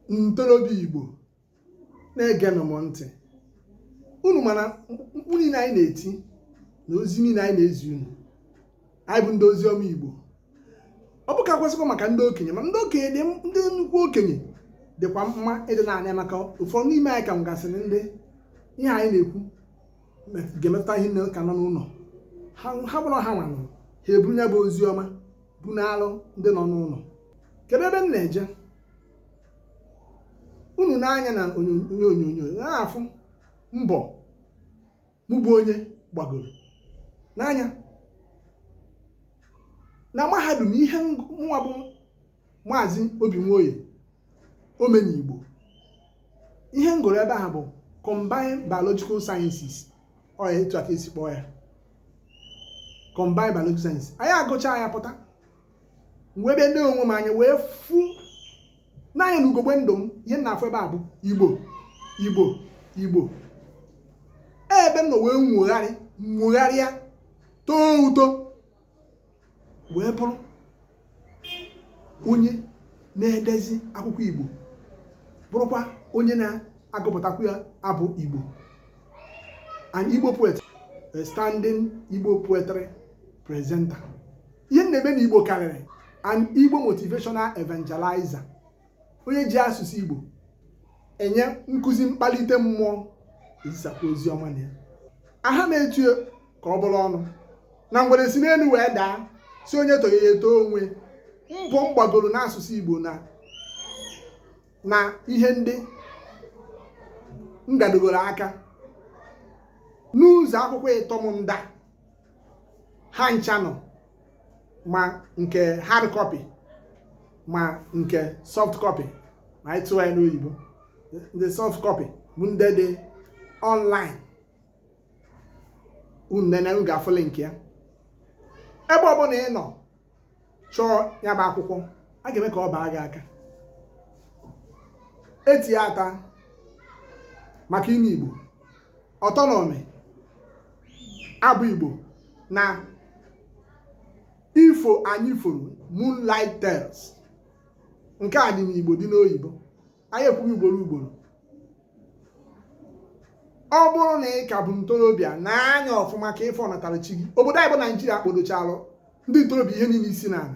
ntorobịa Igbo na-egenụ m ntị unu ma na mkpu niile anyị na-eti na ozi niile anyị na-ezi unu anyị bụ ndị ozi ọma Igbo ọ bụ ka kwesịkwa maka ndị okenye ma ndị okenye dị ndị nnukwu okenye dịkwa mma ịdị na-anụ ya maka ụfọdụ n'ime anyị ka mụgasịrị ndị ihe anyị na-ekwu ga-emetụta ihe nne ka nọ n'ụlọ ha gbara ha nwa nụ ha eburu ya bụ ozi ọma bunalụ ndị nọ n'ụlọ kedu ebe m na-eje unu nee anya na onye onyonyo na-afụ mbọ mụ bụ onye gbagoro n'anya na mahadum ihe nwa bụ maazị obi nwoye omenigbo ihe m gụrụ ebe ahụ bụ combined biological sciences ọ ya etu a ka e si kpọọ ya combined biological science anyị agụcha ya pụta wee bịa nee onwe m anya wee fụ n'anya na ugogbe ndụ m ihe m na-afụ ebe a bụ igbo igbo igbo ebe m nọ wee nwogharị nwogharịa too uto wee bụrụ onye na-edezi akwụkwọ Igbo bụrụkwa onye na-agụpụtakwu ya abụ Igbo an Igbo poet a standing Igbo poetry presenter ihe m na-eme na Igbo karịrị an Igbo motivational evangelizer onye ji asụsụ Igbo enye nkụzi mkpalite mmụọ ezisakwa ozi ọma na ya aha na-etu ka ọ bụrụ ọnụ na ngwere si n'elu wee daa sị onye etoghị ya etoo onwe mbọ m gbagoro n'asụsụ Igbo na na ihe ndị m gadogoro aka n'ụzọ akwụkwọ ịtọ m ndị a ha ncha nọ ma nke hard copy ma nke soft copy ma anyị tụọ ya n'oyibo ndị soft copy bụ ndị dị online unu nene unu ga-afụ link ya ebe ọbụla ị nọ chọọ ya bụ akwụkwọ a ga-eme ka ọ baa gị aka e tinye ata maka inu igbo ụtọ n'ụmị abụ Igbo na ifo anyị foro Moonlight Tales nke a dị n'Igbo dị n'oyibo anyị ekwugo ugboro ugboro ọ bụrụ na ị ka bụ ntorobịa nee anya ọfụma ka ị fọnatara chi gị obodo anyị bụ naijiria kpodochalụ ndị ntorobịa ihe niile isi n'ala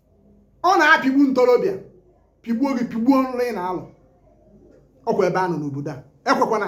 ọ na-apịgbu ntorobịa pịgbuo gị pịgbuo nlọ ị na-alọ ọkwa ebe a nọ n'obodo a ekwekwana